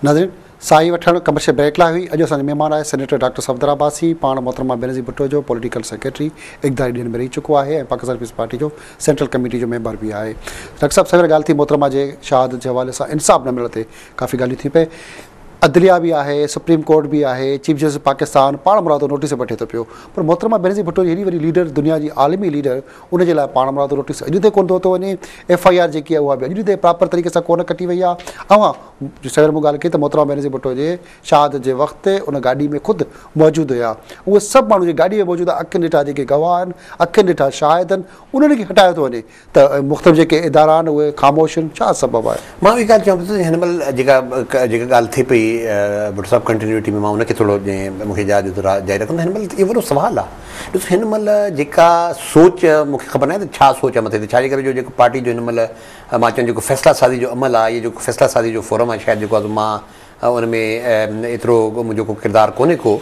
ناظرين ساهي وٺڻ ڪمرشل بريڪ لاء هئي اڄ اسان جو مهمان آهي سينيٽر ڊاڪٽر صفدر عباسي پاڻ محترمه بينظير ڀٽو جو پوليٽيڪل سيڪريٽري اقداري ڏينهن ۾ رهي چڪو آهي ۽ پاڪستان پيپلز پارٽي جو سينٽرل ڪميٽي جو ميمبر به آهي ڊاڪٽر صاحب سوير ڳالهه ٿي محترمه جي شهادت جي حوالي سان انصاف نه ملڻ تي ڪافي ڳالهيون ٿي پئي عدليه به آهي، سپريم ڪورٽ به آهي، چيف جسٽس پاڪستان پاڻمرادو نوٽيس به وٺي ٿو پيو پر محترمه بينظير ڀٽو جي هيڏي وڏي ليڊر دنيا جي عالمي ليڊر ان جي لاء پاڻمرادو نوٽيس اڄ تائين ڪونه ٿو ورتو وڃي ايف آء آر جيڪي آهي اها به اڄ تائين پراپر طريقي سان ڪونه ڪٽي وئي آهي اوهان جو سوير مون ڳالهه ڪئي ته محترمه بينظير ڀٽو جي شهادت جي وقت ان گاڏي ۾ خود موجود هيا اهي سڀ ماڻهو جيڪي گاڏي ۾ موجود آهن اکين ڏٺا جيڪي گواهه آهن اکين ڏٺا شاهد آهن انهن کي هٽايو ٿو وڃي ته مختلف جيڪي ادارا آهن اهي خاموش آهن ڇا سبب آهي؟ مان اهي ڳالهه چوان پيو ته هن مهل جيڪا جيڪا ڳالهه ٿئي پئي ڀٽو صاحب ڪنٽينيوٽي ۾ مان ان کي ٿورو مون کي اجازت ڏيو ته راء جاري رکندو هن مهل اهو وڏو سوال آهي ڏسو هن مهل جيڪا سوچ مون کي خبر ناهي ته ڇا سوچ آهي مٿي تي ڇاجي ڪري جو جيڪو پارٽي جو هن مهل مان چوان جيڪو فيصلا سازي جو عمل آهي جيڪو فيصلا سازي جو فورم آهي شايد جيڪو آهي سو مان ان ۾ ايترو منهنجو ڪو ڪردار ڪونهي ڪو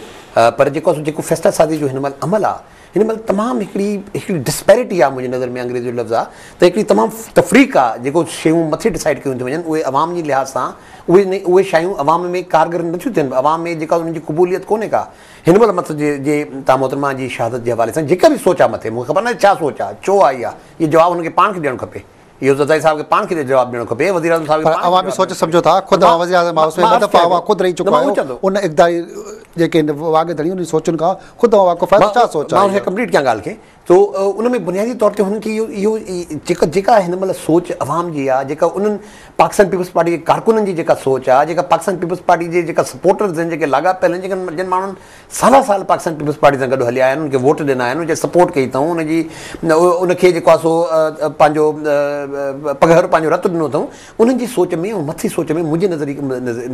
پر جيڪو آهي سو جيڪو فيصلا سازي جو هن مهل عمل آهي هن مهل تمام هڪڙي هڪڙي Disparity آ منهنجي نظر ۾ انگريزي جو لفظ آ ته هڪڙي تمام تفريق آ جيڪو شيون مٿي Decide ڪيون ٿيون وڃن اهي عوام جي لحاظ سان اهي نه اهي شايون عوام ۾ ڪارگر نه ٿيون ٿين عوام ۾ جيڪا انهن جي قبوليت ڪونهي ڪا هن مهل مت جي جي تان محترمه جي شهادت جي حوالي سان جيڪا به سوچ آ مٿي مون کي خبر ناهي ڇا سوچ آ ڇو آئي آ اهو جواب هن کي پاڻ کي ڏيڻ کپي. اهو زرداري صاحب کي پاڻ کي جواب ڏيڻو کپي وزيراعظم صاحب کي پر اوهان به سوچ سمجهو ٿا خود اوهان وزيراعظم هائوس ۾ ٻه دفعا اوهان خود رهي چڪا آهيو ان اقتداري جيڪي واڳ ڌڻي انهن جي سوچن کان خود اوهان واقف آهيو ڇا سوچ آهي مان کي ڪمپليٽ ڪيان ڳالهه کي تو ان ۾ بنيادي طور تي هن کي اهو اهو جيڪا هن مهل سوچ عوام جي آهي جيڪا انهن پاڪستان پيپلز پارٽي جي ڪارڪنن جي جيڪا سوچ آهي جيڪا پاڪستان پيپلز پارٽي جي جيڪا سپورٽرز آهن جيڪي لاڳاپيل آهن جن ماڻهن سالها سال پاڪستان پيپلز پارٽي سان گڏ هليا آيا آهن ان کي ووٽ ڏنا آهن ان جي سپورٽ ڪئي اٿئون ان جي ان کي جيڪو آهي سو پنهنجو پگهر پنهنجو رت ڏنو اٿئون انهن جي سوچ ۾ ۽ مٿي سوچ ۾ منهنجي نظري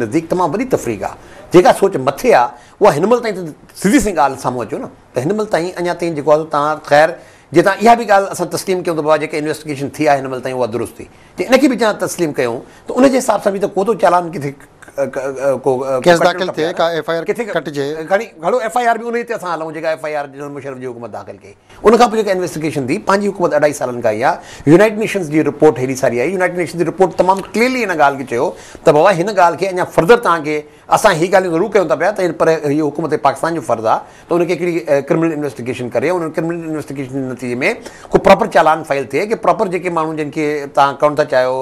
نزديڪ تمام وڏي تفريق آهي جيڪا سوچ مٿي آهي اها هن مهل تائين سڌي سائين ڳالهه سامهون اچو نه ته هن مهل تائين اڃا تائين جيڪو آهي تان خير جي تان اها به ڳالهه اسان تسليم ڪيون ته بابا جيڪا انويسٽيگيشن ٿي آهي هن مهل تائين اها درست ٿي جي ان کي به جان تسليم ڪيون ته ان جي حساب سان به ته ڪو ته چالان ڪٿي ڪو ڪيس داخل ٿئي ڪا ايف آء آر ڪٽجي گهڻي گهڻو ايف آء آر به ان تي اسان هلون جيڪا F I R general Musharraf جي حڪومت داخل ڪئي ان کان پوء جيڪا انويسٽيگيشن ٿي پنهنجي حڪومت اڍائي سالن کان اها يونائيٽ نيشنز جي رپورٽ هيڏي ساري آئي يونائيٽ نيشنز جي رپورٽ تمام ڪليئرلي ان ڳالهه کي چيو ته بابا هن ڳالهه کي اڃا فرڌر توهان کي اسان هي ڳالهيون ضرور ڪيون ٿا پيا ته پر هي حڪومت پاڪستان جو فرض آهي ته ان کي هڪڙي ڪرمنل انويسٽيگيشن ڪري ۽ ان ڪرمنل انويسٽيگيشن جي نتيجي ۾ ڪو پراپر چالان فائل ٿئي ڪي پراپر جيڪي ماڻهو جن کي تان ڪرڻ ٿا چاهيو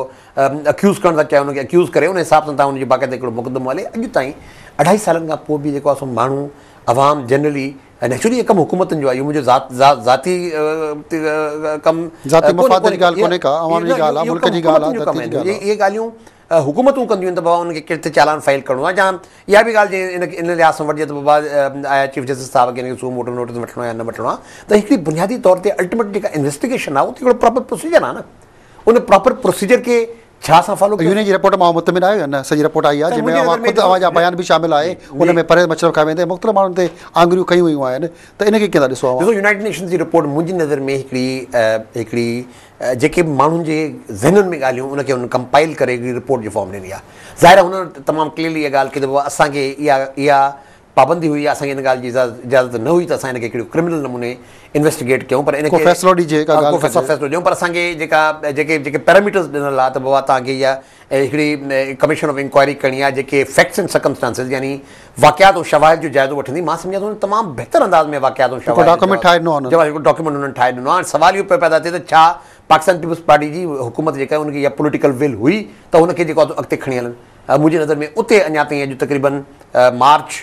اڪيوز ڪرڻ ٿا چاهيو ان کي اڪيوز ڪري ان حساب سان تان ان جو باقاعده هڪڙو مقدمو هلي اڄ تائين اڍائي سالن کان پوء به جيڪو آهي سو ماڻهو عوام جنرلي نيچرلي هي ڪم حڪومتن جو آهي اهو منهنجو ذات ذات ذاتي ڪم ذاتي مفاد جي ڳالهه ڪونهي ڪا عوام جي ڳالهه آهي ملڪ جي ڳالهه آهي ذاتي جي ڳالهه آهي اهي ڳالهيون حڪومتون ڪنديون آهن ته بابا انهن کي ڪهڙي ريت چالان فائل ڪرڻو آهي جا اها به ڳالهه جي ان ان لحاظ سان وٺجي ته بابا آيا چيف جسٽس صاحب کي ان کي سو موٽو نوٽيس وٺڻو آهي يا نه وٺڻو آهي ته هڪڙي بنيادي طور تي الٽيميٽ جيڪا انويسٽيگيشن آهي اهو ته هڪڙو پراپر پروسيجر آهي نه ان پراپر پروسيجر کي ڇا اسان فالو ڪيو يونين جي رپورٽ مان اوهان مطمئن آهيو يا نه سڄي رپورٽ آئي آهي جنهن ۾ اوهان خود اوهان جا بيان به شامل آهي ان ۾ پرهيز مشرف کان ويندي مختلف ماڻهن تي آڱريون ڪيون ويون آهن ته ان کي ڪيئن ٿا ڏسو اوهان ڏسو يونائيٽيڊ نيشنز جي رپورٽ منهنجي نظر ۾ هڪڙي هڪڙي جيڪي به ماڻهن جي ذهنن ۾ ڳالهيون ان کي هن ڪمپائل ڪري هڪڙي رپورٽ جي فارم ڏني آهي. ظاهر آهي هن تمام ڪليئرلي اها ڳالهه ڪئي ته اسان کي اها اها پابندي هئي يا اسان کي ان ڳالهه جي اجازت نه هئي ته اسان هن کي هڪڙي ڪرمنل نموني انويسٽيگيٽ ڪيون پر ان کي فيصلو ڏيجي اها ڳالهه ڪو فيصلو ڏيون پر اسان کي جيڪا جيڪي جيڪي پيراميٽرز ڏنل آهي ته بابا توهان کي اها هڪڙي ڪميشن آف انڪوائري ڪرڻي آهي جيڪي فيڪٽس اينڊ سرڪمسٽانسز يعني واقعات ۽ شواهد جو جائزو وٺندي، مان سمجهان ٿو انهن تمام بهتر انداز ۾ واقعات ۽ شواهد جو ڊاڪيومينٽ ٺاهي ڏنو آهي انهن ڊاڪيومينٽ انهن ٺاهي ڏنو آهي هاڻي سوال اهو پيو پيدا ٿئي ته ڇا پاڪستان پيپلز پارٽي جي حڪومت جيڪا آهي ان کي اها پوليٽيڪل ويل هئي ته هن کي جيڪو آهي سو اڳتي کڻي هلن منهنجي نظر ۾ اتي اڃا تائين اڄ تقريبن مارچ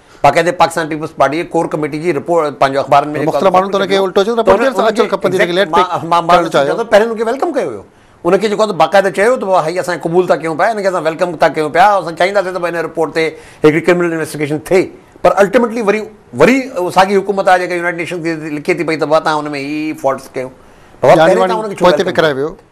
باقاعدي پاڪستان پيپلز پارٽي جي ڪور ڪميٽي جي رپورٽ پنهنجو اخبارن ۾ مختلف ماڻهن ته ان کي الٽو چيو ته پنهنجي طرف سان اچڻ کپندي ان کي ليٽ پيڪ ڪرڻ چاهيو ته پهرين ان کي ويلڪم ڪيو ويو ان کي جيڪو باقاعده چيو ته هائي اسان قبول ٿا ڪيون پيا ان کي اسان ويلڪم ٿا ڪيون پيا اسان چاهينداسين ته ڀاء ان رپورٽ تي هڪڙي ڪرمنل انويسٽيگيشن ٿئي پر الٽيميٽلي وري وري ساڳي حڪومت آهي جيڪا يونائيٽيڊ نيشنز کي لکي ٿي پئي ته بابا تهان ان ۾ هي هي فالٽس ڪيون بابا پهرين تهان ان کي ڇو ويلڪم ڪيو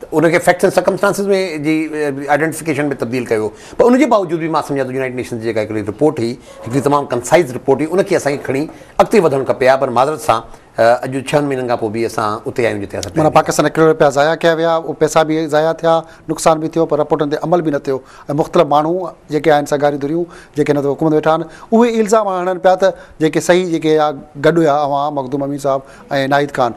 ته ان کي فيڪٽس اينڊ سرڪمسٽانسز ۾ جي آئيڊينٽيفڪيشن ۾ تبديل ڪيو ويو پر ان جي باوجود به مان سمجهان ٿو يونائيٽيڊ نيشنز جي جيڪا هڪڙي رپورٽ هئي هڪڙي تمام ڪنسائز رپورٽ هئي ان کي اسان کي کڻي اڳتي وڌڻ کپي ها پر معذرت سان اڄ ڇهن مهينن کان پوء به اسان اتي آهيون جتي اسان معنيٰ پاڪستان جا ڪروڙين رپيا ضايع ڪيا ويا اهي پئسا به ضايع ٿيا نقصان به ٿيو پر رپورٽن تي عمل به نه ٿيو ۽ مختلف ماڻهو جيڪي آهن سگهاريون ڌريون جيڪي هن حڪومت ويٺا آهن اهي الزام هڻن پيا ته جيڪي صحيح جيڪي گڏ هيا اوهان مخدوم امين صاحب ۽ ناهيد خان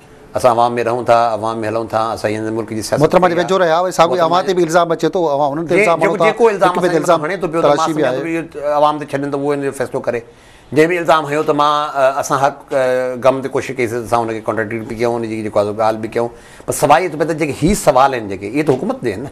اسان عوام ۾ رهون ٿا، عوام ۾ هلون ٿا، اسان ئي هن ملڪ جي سياست محترمه جي ويجهو رهيا اهي ساڳيو ئي اوهان تي به الزام اچي ٿو اوهان انهن تي الزام هڻو ٿا جيڪو الزام اسان جي مٿان هڻي ٿو پيو ته مان سمجهان ٿو اهو عوام تي ڇڏين ته اهو ان جو فيصلو ڪري جنهن به الزام هنيو ته مان اسان حق غم تي ڪوشش ڪئيسي ته اسان ان کي ڪانٽراڊڪٽ به ڪيون ان جي جيڪو آزو ڳالهه به ڪيون پر سوال اهو ٿو پئي ته جيڪي هي سوال آهن جيڪي اهي ته حڪومت جي آهن نه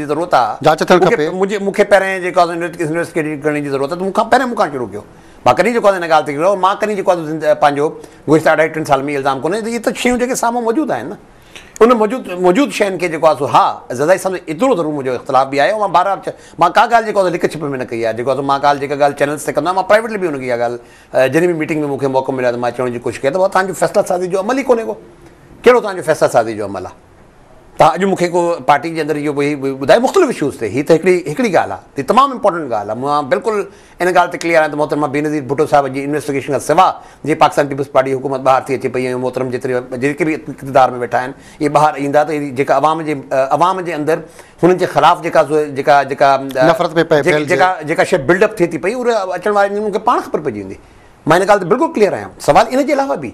جي ضرورت آ جاچ ٿيڻ کپي. منهنجي مون کي پهرين جيڪو آ انويسٽيگيٽ ڪرڻ جي ضرورت آ ته مون کان پهرين مون کان شروع ڪيو مان ڪڏهن جيڪو آ هن ڳالهه تي ڪيو مان ڪڏهن جيڪو آ پنهنجو گذشته اڍائي ٽن سالن ۾ الزام ڪونه اهي ته شيون جيڪي سامهون موجود آهن نه ان موجود موجود شين کي جيڪو آ سو ها زدائي سمجهه ايترو ضرور منهنجو اختلاف به آهي مان بار بار مان ڪا ڳالهه جيڪو آ لڪ ڇپ ۾ نه ڪئي آ جيڪو آ سو مان ڳالهه جيڪا ڳالهه چينلز تي ڪندو آهيان مان پرائيويٽلي به ان کي اها ڳالهه جڏهن به ميٽنگ ۾ مون کي موقعو مليو آ ته مان چوڻ جي ڪوشش ڪئي ته ڀاء تهنجو فيصله سازي جو عمل ئي ڪونه ڪو ڪهڙو تهنجو فيصله سازي جو عمل آ تان اڄ مون کي ڪو پارٽي جي اندر اهو به ٻڌايو مختلف اشوز تي هي ته هڪڙي هڪڙي ڳالهه آهي هي تمام امپورٽنٽ ڳالهه آهي مان بلڪل ان ڳالهه تي ڪليئر آهيان ته محترمه بينظير ڀٽو صاحب جي انويسٽيگيشن کان سواء جي پاڪستان پيپلز پارٽي حڪومت ٻاهر ٿي اچي پئي ۽ محترم جيتري جيڪي به اقتدار ۾ ويٺا آهن اهي ٻاهر ايندا ته اهي جيڪا عوام جي عوام جي اندر هنن جي خلاف جيڪا جيڪا جيڪا نفرت پئي پئي ڦهلجي جيڪا جيڪا شيء بلڊ اپ ٿئي ٿي پئي اهي اچڻ وارن ڏينهن کي پاڻ خبر پئجي ويندي مان ان ڳالهه تي بلڪل ڪليئر آهيان سوال ان جي علاوه به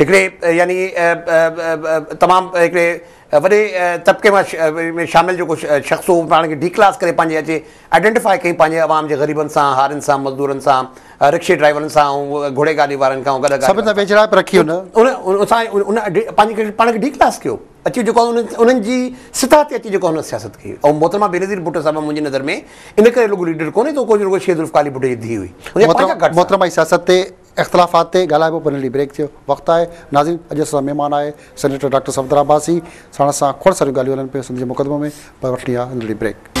هڪڙي يعني تمام هڪڙي وڏي طبقي مان ۾ شامل جيڪو شخص هو پاڻ کي ڊي ڪلاس ڪري پنهنجي اچي آئيڊينٽيفائي ڪئي پنهنجي عوام جي غريبن سان هارين سان مزدورن سان رڪشي ڊرائيورن سان ۽ گهوڙي گاڏي وارن کان گڏ سڀ سان ويجهڙائپ رکي ان ان سان ان پنهنجي پاڻ کي ڊي ڪلاس ڪيو اچي جيڪو ان انهن جي سطح تي اچي جيڪو هن سياست ڪئي ۽ محترمه بينظير ڀٽو صاحب منهنجي نظر ۾ ان ڪري لڳو ليڊر ڪونهي ته ڪو جي رڳو شيخ ذوالفقار علي ڀٽو جي ڌيء هئي محترمه جي سياست تي اختلافات تي ڳالهائبو پڻ لي بريڪ ٿيو وقت آهي ناظرين اڄ اسان سان مهمان آهي سينيٽر ڊاڪٽر صفدر عباسي ساڻس سان کوڙ ساريون ڳالهيون هلن پيون سنڌ جي مقدمو ۾ پر وٺڻي آهي ننڍڙي بريڪ.